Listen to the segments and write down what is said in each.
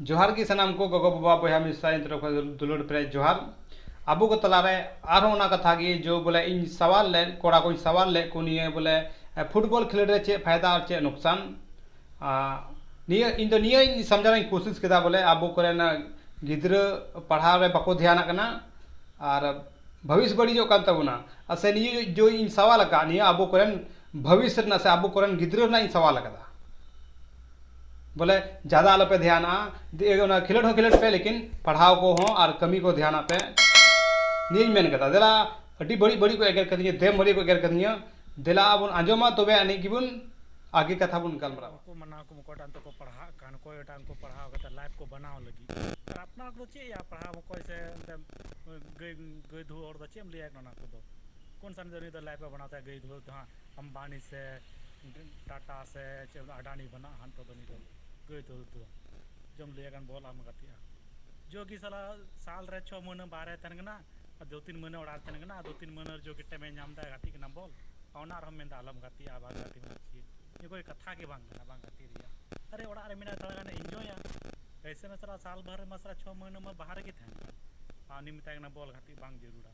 ᱡᱚᱦᱟᱨ ᱜᱮ ᱥᱟᱱᱟᱢ ᱠᱚ ᱜᱚᱜᱚ ᱵᱟᱵᱟ ᱵᱚᱭᱦᱟ ᱢᱤᱥᱨᱟ ᱤᱧ ᱛᱚᱨᱚᱯ ᱠᱷᱚᱱ ᱫᱩᱞᱟᱹᱲ ᱯᱮᱨᱮᱡ ᱡᱚᱦᱟᱨ ᱟᱵᱚ ᱠᱚ ᱛᱟᱞᱟ ᱨᱮ ᱟᱨᱦᱚᱸ ᱚᱱᱟ ᱠᱟᱛᱷᱟ ᱜᱮ ᱡᱮ ᱵᱚᱞᱮ ᱤᱧ ᱥᱟᱶᱟᱞ ᱞᱮᱫ ᱠᱚᱲᱟ ᱠᱚᱧ ᱥᱟᱶᱟᱞ ᱞᱮᱫ ᱠᱚ ᱱᱤᱭᱟᱹ ᱵᱚᱞᱮ ᱯᱷᱩᱴᱵᱚᱞ ᱠᱷᱮᱞᱳᱰ ᱨᱮ ᱪᱮᱫ ᱯᱷᱟᱭᱫᱟ ᱟᱨ ᱪᱮᱫ ᱞᱳᱠᱥᱟᱱ ᱱᱤᱭᱟᱹ ᱤᱧ ᱫᱚ ᱱᱤᱭᱟᱹ ᱤᱧ ᱥᱚᱢᱡᱷᱟᱣ ᱨᱮᱭᱟᱜ ᱤᱧ ᱠᱳᱥᱤᱥ ᱠᱮᱫᱟ ᱵᱚᱞᱮ ᱟᱵᱚ ᱠᱚᱨᱮᱱ ᱜᱤᱫᱽᱨᱟᱹ ᱯᱟᱲᱦᱟᱣ ᱨᱮ ᱵᱟᱠᱚ ᱫᱷᱮᱭᱟᱱᱟᱜ ᱠᱟᱱᱟ ᱟᱨ ᱵᱷᱚᱵᱤᱥ ᱵᱟᱹᱲᱤᱡᱚᱜ ᱠᱟᱱ ᱛᱟᱵᱚᱱᱟ ᱟᱨ ᱥᱮ ᱱᱤᱭᱟᱹ ᱡᱮ ᱤᱧ ᱥᱟᱶᱟᱞ ᱟᱠᱟᱫ ᱱᱤᱭᱟᱹ ᱟᱵᱚ ᱠᱚᱨᱮᱱ ᱵᱷᱚᱵᱤᱥ ᱨᱮᱱᱟᱜ ᱥᱮ ᱟᱵᱚ ᱠᱚᱨᱮᱱ ᱜᱤᱫᱽᱨᱟᱹ ᱨᱮᱱᱟᱜ ᱤᱧ ᱥᱟᱶᱟᱞ ᱟᱠᱟᱫᱟ ᱵᱚᱞᱮ ᱡᱟᱫᱟ ᱟᱞᱚ ᱯᱮ ᱫᱷᱮᱭᱟᱱᱟ ᱚᱱᱟ ᱠᱷᱮᱞᱳᱰ ᱦᱚᱸ ᱠᱷᱮᱞᱳᱰ ᱯᱮ ᱞᱮᱠᱤᱱ ᱯᱟᱲᱦᱟᱣ ᱠᱚᱦᱚᱸ ᱟᱨ ᱠᱟᱹᱢᱤ ᱠᱚ ᱫᱷᱮᱭᱟᱱ ᱟᱜ ᱯᱮ ᱱᱤᱭᱟᱹᱧ ᱢᱮᱱ ᱠᱟᱫᱟ ᱫᱮᱞᱟ ᱟᱹᱰᱤ ᱵᱟᱹᱲᱤᱡ ᱵᱟᱹᱲᱤᱡ ᱠᱚ ᱮᱜᱮᱨ ᱠᱟᱹᱫᱤᱧᱟ ᱫᱮᱢ ᱵᱷᱟᱹᱞᱤ ᱠᱚ ᱮᱜᱮᱨ ᱠᱟᱹᱫᱤᱧᱟ ᱫᱮᱞᱟ ᱵᱚᱱ ᱟᱸᱡᱚᱢᱟ ᱛᱚᱵᱮ ᱟᱹᱱᱤᱡ ᱜᱮᱵᱚᱱ ᱟᱜᱮ ᱠᱟᱛᱷᱟ ᱵᱚᱱ ᱜᱟᱞᱢᱟᱨᱟᱣᱟ ᱟᱢᱵᱟᱱᱤ ᱥᱮ ᱴᱟᱴᱟ ᱥᱮ ᱪᱮᱫ ᱵᱚᱞᱮ ᱟᱰᱟᱱᱤ ᱵᱟᱹᱱᱩᱜᱼᱟ ᱦᱟᱸᱜ ᱱᱤᱛᱚᱜ ᱫᱚ ᱩᱱᱤ ᱫᱚ ᱜᱟᱹᱭ ᱫᱚ ᱫᱚ ᱡᱚᱢ ᱞᱟᱹᱭᱟᱭ ᱠᱷᱟᱱ ᱵᱚᱞ ᱟᱢᱮ ᱜᱟᱛᱮᱜᱼᱟ ᱡᱳᱜᱤ ᱥᱟᱞᱟ ᱥᱟᱞ ᱨᱮ ᱪᱷᱚ ᱢᱟᱹᱦᱱᱟᱹ ᱵᱟᱦᱨᱮ ᱛᱟᱦᱮᱱ ᱠᱟᱱᱟ ᱟᱨ ᱫᱩ ᱛᱤᱱ ᱢᱟᱹᱦᱱᱟᱹ ᱚᱲᱟᱜ ᱨᱮ ᱛᱟᱦᱮᱱ ᱠᱟᱱᱟ ᱟᱨ ᱫᱩ ᱛᱤᱱ ᱢᱟᱹᱦᱱᱟᱹ ᱨᱮ ᱡᱳᱜᱤ ᱴᱟᱭᱤᱢᱮ ᱧᱟᱢ ᱮᱫᱟ ᱜᱟᱛᱮᱜ ᱠᱟᱱᱟ ᱵᱚᱞ ᱟᱨ ᱚᱱᱟ ᱨᱮᱦᱚᱸᱢ ᱢᱮᱱᱫᱟ ᱟᱞᱚᱢ ᱜᱟᱛᱮᱜᱼᱟ ᱵᱟᱝ ᱜᱟᱛᱮᱜ ᱢᱮ ᱪᱮᱫ ᱱᱤᱭᱟᱹ ᱠᱚᱨᱮ ᱠᱟᱛᱷᱟ ᱜᱮ ᱵᱟᱝ ᱠᱟᱱᱟ ᱵᱟᱝ ᱜᱟᱛᱮᱜ ᱨᱮᱭᱟᱜ ᱟᱨᱮ ᱚᱲᱟᱜ ᱨᱮ ᱢᱮᱱᱟᱭᱟ ᱛᱷᱚᱲᱟ ᱜᱟᱱᱮ ᱤᱱᱡᱚᱭᱟ ᱮᱭᱥᱮ ᱢᱟ ᱥᱟᱞᱟ ᱥᱟᱞ ᱵᱷᱚᱨ ᱨᱮᱢᱟ ᱥᱟᱞᱟ ᱪᱷᱚ ᱢᱟᱹᱦᱱᱟᱹ ᱢᱟ ᱵᱟᱦᱨᱮ ᱜᱮ ᱛᱟᱦᱮᱱ ᱠᱟᱱ ᱟᱨ ᱩᱱᱤᱢ ᱢᱮᱛᱟᱭ ᱠᱟᱱᱟ ᱵᱚᱞ ᱜᱟᱛᱮᱜ ᱵᱟᱝ ᱡᱟᱹᱨᱩᱲᱟ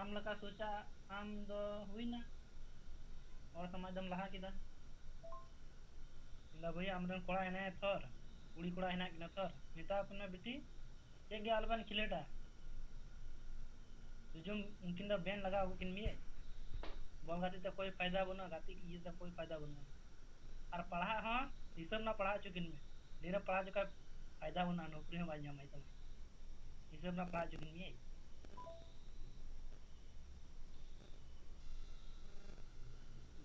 ᱟᱢ ᱞᱮᱠᱟ ᱥᱳᱪᱟᱜ ᱟᱢ ᱫᱚ ᱦᱩᱭᱱᱟ ᱦᱚᱲ ᱥᱚᱢᱟᱡᱽ ᱫᱚᱢ ᱞᱟᱦᱟ ᱠᱮᱫᱟ ᱢᱮᱱᱫᱟ ᱵᱷᱟᱹᱭ ᱟᱢᱨᱮᱱ ᱠᱚᱲᱟ ᱦᱮᱱᱟᱭᱟ ᱛᱷᱚᱨ ᱠᱩᱲᱤ ᱠᱚᱲᱟ ᱦᱮᱱᱟᱜ ᱠᱤᱱᱟ ᱛᱷᱚᱨ ᱢᱮᱛᱟ ᱠᱚ ᱢᱮ ᱵᱤᱴᱤ ᱪᱮᱫ ᱜᱮ ᱟᱞᱚᱵᱮᱱ ᱠᱷᱤᱞᱟᱹᱴᱟ ᱡᱩᱡᱩᱢ ᱩᱱᱠᱤᱱ ᱫᱚ ᱵᱮᱱ ᱞᱟᱜᱟᱣ ᱠᱤᱱ ᱢᱮᱭᱟᱭ ᱵᱚᱞ ᱜᱟᱛᱮᱜ ᱛᱮ ᱠᱳᱭ ᱯᱷᱟᱭᱫᱟ ᱵᱟᱹᱱᱩᱜᱼᱟ ᱜᱟᱛᱮᱜ ᱤᱭᱟᱹᱛᱮ ᱠᱳᱭ ᱯᱷᱟᱭᱫᱟ ᱵᱟᱹᱱᱩᱜᱼᱟ ᱟᱨ ᱯᱟᱲᱦᱟᱜ ᱦᱚᱸ ᱦᱤᱥᱟᱹᱵ ᱨᱮᱱᱟᱜ ᱯᱟᱲᱦᱟᱣ ᱦᱚᱪᱚ ᱠᱤᱱ ᱢᱮ ᱰᱷᱮᱨᱮ ᱯᱟᱲᱦᱟᱣ ᱦᱚᱪᱚ ᱠᱷᱟᱱ ᱯᱷᱟᱭᱫᱟ ᱵᱟᱹᱱᱩᱜᱼᱟ ᱱᱚᱠᱨᱤ ᱦᱚᱸ ᱵᱟᱭ ᱧᱟᱢᱟᱭ ᱛᱟᱢᱟ ᱦᱤᱥᱟᱹᱵ ᱨᱮᱱᱟᱜ ᱯᱟᱲᱦᱟᱣ ᱦᱚᱪᱚ ᱠᱤᱱ ᱢᱮᱭᱟᱭ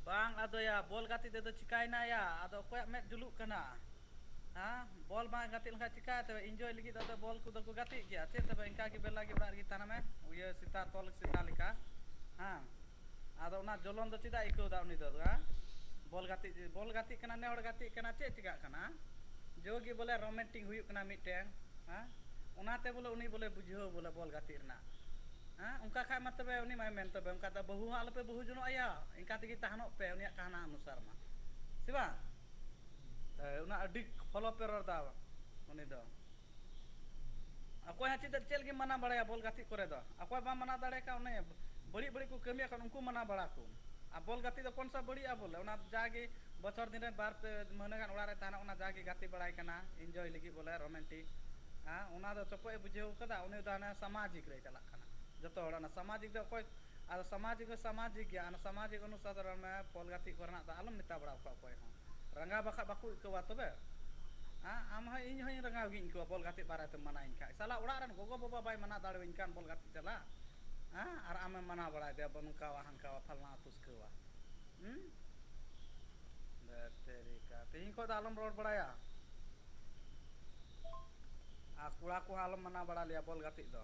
ᱵᱟᱝ ᱟᱫᱚᱭᱟ ᱵᱚᱞ ᱜᱟᱛᱮᱜ ᱛᱮᱫᱚ ᱪᱤᱠᱟᱭᱮᱱᱟᱭᱟ ᱟᱫᱚ ᱚᱠᱚᱭᱟᱜ ᱢᱮᱫ ᱡᱩᱞᱩᱜ ᱠᱟᱱᱟ ᱦᱮᱸ ᱵᱚᱞ ᱵᱟᱝ ᱜᱟᱛᱮᱜ ᱞᱮᱱᱠᱷᱟᱱ ᱪᱮᱠᱟ ᱛᱮ ᱤᱱᱡᱚᱭ ᱞᱟᱹᱜᱤᱫ ᱫᱚ ᱟᱫᱚ ᱵᱚᱞ ᱠᱚᱫᱚ ᱠᱚ ᱜᱟᱛᱮᱜ ᱜᱮᱭᱟ ᱪᱮᱫ ᱛᱚᱵᱮ ᱤᱱᱠᱟ ᱜᱮ ᱵᱮᱞᱟ ᱜᱮ ᱚᱲᱟᱜ ᱨᱮᱜᱮ ᱛᱟᱦᱮᱱ ᱢᱮ ᱤᱭᱟᱹ ᱥᱮᱛᱟ ᱛᱚᱞ ᱥᱮᱛᱟ ᱞᱮᱠᱟ ᱦᱮᱸ ᱟᱫᱚ ᱚᱱᱟ ᱡᱚᱞᱚᱱ ᱫᱚ ᱪᱮᱫᱟᱜ ᱮ ᱟᱹᱭᱠᱟᱹᱣ ᱮᱫᱟ ᱩᱱᱤ ᱫᱚ ᱟᱫᱚ ᱦᱮᱸ ᱵᱚᱞ ᱜᱟᱛᱮᱜ ᱡᱮ ᱵᱚᱞ ᱜᱟᱛᱮᱜ ᱠᱟᱱᱟ ᱱᱮ ᱦᱚᱲ ᱜᱟᱛᱮᱜ ᱠᱟᱱᱟ ᱪᱮᱫ ᱪᱮᱠᱟᱜ ᱠᱟᱱᱟ ᱡᱳ ᱜᱮ ᱵᱚᱞᱮ ᱨᱚᱢᱮᱱᱴᱤᱠ ᱦᱩᱭᱩᱜ ᱠᱟᱱᱟ ᱢᱤᱫᱴᱮᱱ ᱦᱮᱸ ᱚᱱᱟᱛᱮ ᱵᱚᱞᱮ ᱩᱱᱤ ᱵᱚᱞᱮ ᱵᱩᱡᱷᱟᱹᱣ ᱵᱚᱞᱮ ᱵᱚᱞ ᱜᱟᱛᱮᱜ ᱨᱮᱱᱟᱜ ᱦᱮᱸ ᱚᱱᱠᱟ ᱠᱷᱟᱱ ᱢᱟ ᱛᱚᱵᱮ ᱩᱱᱤ ᱢᱟᱭ ᱢᱮᱱ ᱛᱚᱵᱮ ᱚᱱᱠᱟ ᱫᱚ ᱵᱟᱹᱦᱩ ᱦᱚᱸ ᱟᱞᱚᱯᱮ ᱵᱟᱹᱦᱩ ᱡᱚᱱᱚᱜ ᱟᱭᱟ ᱤᱱᱠᱟ ᱛᱮᱜᱮ ᱛᱟᱦᱮᱱᱚᱜ ᱯᱮ ᱩᱱᱤᱭᱟᱜ ᱠᱟᱦᱱᱟ ᱚᱱᱩᱥᱟᱨ ᱢᱟ ᱥᱮ ᱵᱟᱝ ᱦᱮᱸ ᱚᱱᱟ ᱟᱹᱰᱤ ᱯᱷᱚᱞᱚᱯ ᱮ ᱨᱚᱲ ᱮᱫᱟ ᱩᱱᱤ ᱫᱚ ᱚᱠᱚᱭ ᱦᱚᱸ ᱪᱮᱫ ᱪᱮᱫ ᱜᱮᱢ ᱢᱟᱱᱟᱣ ᱵᱟᱲᱟᱭᱟ ᱵᱚᱞ ᱜᱟᱛᱮᱜ ᱠᱚᱨᱮ ᱫᱚ ᱚᱠᱚᱭ ᱵᱟᱢ ᱢᱟᱱᱟᱣ ᱫᱟᱲᱮᱭᱟᱜ ᱠᱟᱱᱟ ᱚᱱᱮ ᱵᱟᱹᱲᱤᱡ ᱵᱟᱹᱲᱤᱡ ᱠᱚ ᱠᱟᱹᱢᱤᱭᱟ ᱠᱟᱱᱟ ᱩᱱᱠᱩ ᱢᱟᱱᱟᱣ ᱵᱟᱲᱟ ᱠᱚᱢ ᱟᱨ ᱵᱚᱞ ᱜᱟᱛᱮᱜ ᱫᱚ ᱠᱚᱱ ᱥᱟ ᱵᱟᱹᱲᱤᱡᱼᱟ ᱵᱚᱞᱮ ᱚᱱᱟ ᱡᱟᱜᱮ ᱵᱚᱪᱷᱚᱨ ᱫᱤᱱ ᱨᱮ ᱵᱟᱨ ᱯᱮ ᱢᱟᱹᱦᱱᱟᱹ ᱜᱟᱱ ᱚᱲᱟᱜ ᱨᱮ ᱛᱟᱦᱮᱱᱟ ᱚᱱᱟ ᱡᱟᱜᱮ ᱜᱟᱛᱮ ᱵᱟᱲᱟᱭ ᱠᱟᱱᱟ ᱤᱱᱡᱚᱭ ᱞᱟᱹᱜᱤᱫ ᱵᱚᱞᱮ ᱨᱳᱢᱮᱱᱴᱤᱠ ᱦᱮᱸ ᱚᱱᱟ ᱫᱚ ᱪᱚᱯᱚᱡ ᱮ ᱵᱩᱡᱷᱟᱹᱣ ᱟᱠᱟᱫᱟ ᱩᱱᱤ ᱫᱚ ᱦᱟᱱᱮ ᱥᱟᱢᱟᱡᱤᱠ ᱨᱮᱭ ᱪᱟᱞᱟᱜ ᱠᱟᱱᱟ ᱡᱚᱛᱚ ᱦᱚᱲ ᱚᱱᱟ ᱥᱟᱢᱟᱡᱤᱠ ᱫᱚ ᱚᱠᱚᱭ ᱟᱫᱚ ᱥᱟᱢᱟᱡᱤᱠ ᱫᱚ ᱥᱟᱢᱟᱡᱤᱠ ᱜᱮᱭᱟ ᱟᱨ ᱥᱟᱢᱟᱡᱤᱠ ᱚᱱᱩᱥᱟᱨ ᱫᱚ ᱨᱚᱲ ᱢᱮ ᱯᱷᱚᱞ ᱜᱟᱛᱮᱜ ᱠᱚᱨᱮᱱᱟᱜ ᱫᱚ ᱟᱞᱚᱢ ᱢᱮᱛᱟ ᱵᱟᱲᱟᱣ ᱠᱚᱣᱟ ᱚᱠᱚᱭ ᱦᱚᱸ ᱨᱟᱸᱜᱟ ᱵᱟᱠᱷᱟᱡ ᱵᱟᱠᱚ ᱟᱹᱭᱠᱟᱹᱣᱟ ᱛᱚᱵᱮ ᱦᱮᱸ ᱟᱢ ᱦᱚᱸ ᱤᱧ ᱦᱚᱸ ᱨᱟᱸᱜᱟᱣ ᱜᱤᱧ ᱟᱹᱭᱠᱟᱹᱣᱟ ᱵᱚᱞ ᱜᱟᱛᱮᱜ ᱵᱟᱨᱮ ᱛᱮᱢ ᱢᱟᱱᱟᱣ ᱤᱧ ᱠᱷᱟᱡ ᱥᱟᱞᱟ ᱚᱲᱟᱜ ᱨᱮᱱ ᱜᱚᱜᱚ ᱵᱟᱵᱟ ᱵᱟᱭ ᱢᱟᱱᱟᱣ ᱫᱟᱲᱮ ᱟᱹᱧ ᱠᱟᱱ ᱵᱚᱞ ᱜᱟᱛᱮᱜ ᱪᱟᱞᱟᱜ ᱦᱮᱸ ᱟᱨ ᱟᱢᱮᱢ ᱢᱟᱱᱟᱣ ᱵᱟᱲᱟᱭ ᱫᱮᱭᱟ ᱵᱟᱹᱱᱩ ᱱᱚᱝᱠᱟᱣᱟ ᱦᱟᱱᱠᱟᱣᱟ ᱯᱷᱟᱞᱱᱟᱣᱟ ᱫᱷᱩᱥᱠᱟᱹᱣᱟ ᱦᱩᱸ ᱫᱷᱟᱹᱴ ᱛᱮᱨᱤᱠᱟ ᱛᱮᱦᱮᱧ ᱠᱷᱚᱱ ᱫᱚ ᱟᱞᱚᱢ ᱨᱚᱲ ᱵᱟᱲᱟᱭᱟ ᱟᱨ ᱠᱚᱲᱟ ᱠᱚᱦᱚᱸ ᱟᱞᱚᱢ ᱢᱟᱱᱟᱣ ᱵᱟᱲᱟ ᱞᱮᱭᱟ ᱵᱚᱞ ᱜᱟᱛᱮᱜ ᱫᱚ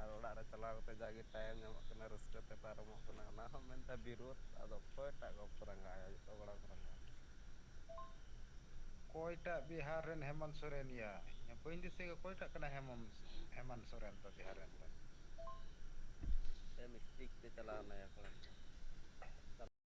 ᱟᱨ ᱚᱲᱟᱜ ᱨᱮ ᱪᱟᱞᱟᱣ ᱠᱟᱛᱮ ᱡᱟᱜᱮ ᱴᱟᱭᱤᱢ ᱧᱟᱢᱚᱜ ᱠᱟᱱᱟ ᱨᱟᱹᱥᱠᱟᱹ ᱛᱮ ᱯᱟᱨᱚᱢᱚᱜ ᱠᱟᱱᱟ ᱚᱱᱟ ᱦᱚᱸ ᱢᱮᱱᱛᱮ ᱵᱤᱨᱳᱫ ᱟᱫᱚ ᱚᱠᱚᱭᱴᱟᱜ ᱜᱚᱞᱯᱚ ᱨᱟᱸᱜᱟᱣᱟᱭᱟ ᱡᱚᱛᱚ ᱠᱚᱲᱟ ᱠᱚ ᱨᱟᱸᱜᱟᱣᱟ ᱚᱠᱚᱭᱴᱟᱜ ᱵᱤᱦᱟᱨ ᱨᱮᱱ ᱦᱮᱢᱚᱱ ᱥᱚᱨᱮᱱ ᱭᱟ ᱤᱧ ᱢᱟ ᱵᱟᱹᱧ ᱫᱤᱥᱟᱹᱭᱮᱫ ᱚᱠᱚᱭᱴᱟᱜ ᱠᱟᱱᱟᱭ ᱦᱮᱢᱚᱱ ᱦᱮᱢᱟᱱ ᱥᱚᱨᱮᱱ ᱫᱚ ᱵᱤᱦᱟᱨ ᱨᱮᱱ ᱫᱚ ᱥᱮ ᱢᱤᱥᱴᱤᱠ ᱛᱮ ᱪᱟᱞᱟᱣ ᱱᱟᱭᱟ ᱠᱚᱲᱟ ᱴᱟᱜ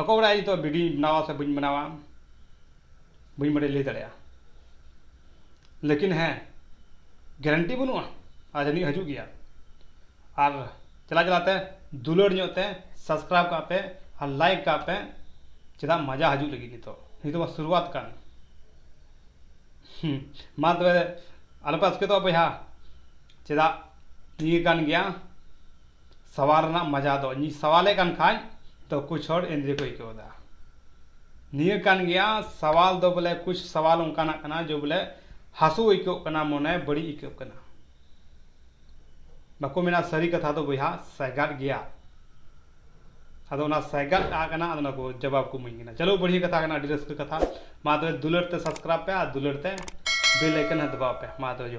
ᱚᱠᱚᱭ ᱵᱟᱲᱟᱭ ᱱᱤᱛᱚᱜ ᱵᱷᱤᱰᱭᱳᱧ ᱵᱮᱱᱟᱣᱟ ᱥᱮ ᱵᱟᱹᱧ ᱵᱮᱱᱟᱣᱟ ᱵᱟᱹᱧ ᱵᱟᱲᱟᱭ ᱞᱟᱹᱭ ᱫᱟᱲᱮᱭᱟᱜᱼᱟ ᱞᱮᱠᱤᱱ ᱦᱮᱸ ᱜᱮᱨᱮᱱᱴᱤ ᱵᱟᱹᱱᱩᱜᱼᱟ ᱟᱨ ᱡᱟᱹᱱᱤᱡ ᱦᱤᱡᱩᱜ ᱜᱮᱭᱟ ᱟᱨ ᱪᱟᱞᱟᱣ ᱪᱟᱞᱟᱣ ᱛᱮ ᱫᱩᱞᱟᱹᱲ ᱧᱚᱜ ᱛᱮ ᱥᱟᱵᱥᱠᱨᱟᱭᱤᱵᱽ ᱠᱟᱜ ᱯᱮ ᱟᱨ ᱞᱟᱭᱤᱠ ᱠᱟᱜ ᱯᱮ ᱪᱮᱫᱟᱜ ᱢᱟᱡᱟ ᱦᱤᱡᱩᱜ ᱞᱟᱹᱜᱤᱫ ᱱᱤᱛᱚᱜ ᱱᱤᱛᱚᱜ ᱢᱟ ᱥᱩᱨᱩᱣᱟᱛ ᱠᱟᱱ ᱦᱮᱸ ᱢᱟ ᱛᱚᱵᱮ ᱟᱞᱚᱯᱮ ᱟᱥᱠᱮᱛᱚᱜᱼᱟ ᱵᱚᱭᱦᱟ ᱪᱮᱫᱟᱜ ᱱᱤᱭᱟᱹ ᱠᱟᱱ ᱜᱮᱭᱟ ᱥᱟᱣᱟᱞ ᱨᱮᱱᱟᱜ ᱢᱟᱡᱟ ᱫᱚ ᱤᱧᱤᱧ ᱥᱟᱣᱟᱞᱮ ᱠᱟᱱ ᱠᱷᱟᱡ ᱛᱚ ᱠᱩᱪ ᱦᱚᱲ ᱮᱸᱫᱽᱨᱮ ᱠᱚ ᱟᱹᱭᱠᱟᱹᱣ ᱮᱫᱟ ᱱᱤᱭᱟᱹ ᱠᱟᱱ ᱜᱮᱭᱟ ᱥᱟᱣᱟᱞ ᱫᱚ ᱵᱚᱞᱮ ᱠᱩᱪ ᱥᱟᱣᱟᱞ ᱚᱱᱠᱟᱱᱟᱜ ᱠᱟᱱᱟ ᱡᱮ ᱵᱚᱞᱮ ᱦᱟᱹᱥᱩ ᱟᱹᱭᱠᱟᱹᱜ ᱠᱟᱱᱟ ᱢᱚᱱᱮ ᱵᱟᱹᱲᱤᱡ ᱟᱹᱭᱠᱟᱹᱜ ᱠᱟᱱᱟ ᱵᱟᱠᱚ ᱢᱮᱱᱟ ᱥᱟᱹᱨᱤ ᱠᱟᱛᱷᱟ ᱫᱚ ᱵᱚᱭᱦᱟ ᱥᱟᱭᱜᱟᱫ ᱜᱮᱭᱟ ᱟᱫᱚ ᱚᱱᱟ ᱥᱟᱭᱜᱟᱫ ᱟᱜ ᱠᱟᱱᱟ ᱟᱫᱚ ᱚᱱᱟ ᱠᱚ ᱡᱟᱵᱟᱵ ᱠᱚ ᱤᱢᱟᱹᱧ ᱠᱟᱱᱟ ᱪᱚᱞᱚ ᱵᱟᱹᱲᱦᱤ ᱠᱟᱛᱷᱟ ᱠᱟᱱᱟ ᱟᱹᱰᱤ ᱨᱟᱹᱥᱠᱟᱹ ᱠᱟᱛᱷᱟ ᱢᱟ ᱛᱚᱵᱮ ᱫᱩᱞᱟᱹᱲ ᱛᱮ ᱥᱟᱵᱥᱠᱨᱟᱭᱤᱵ ᱯᱮ ᱟᱨ ᱫᱩᱞᱟᱹᱲ ᱛᱮ ᱵᱮᱞ ᱟᱭᱠᱚᱱ ᱦᱚᱸ ᱫᱟᱵᱟᱣ ᱯᱮ ᱢᱟ ᱛᱚᱵᱮ ᱡᱚᱦᱟᱨ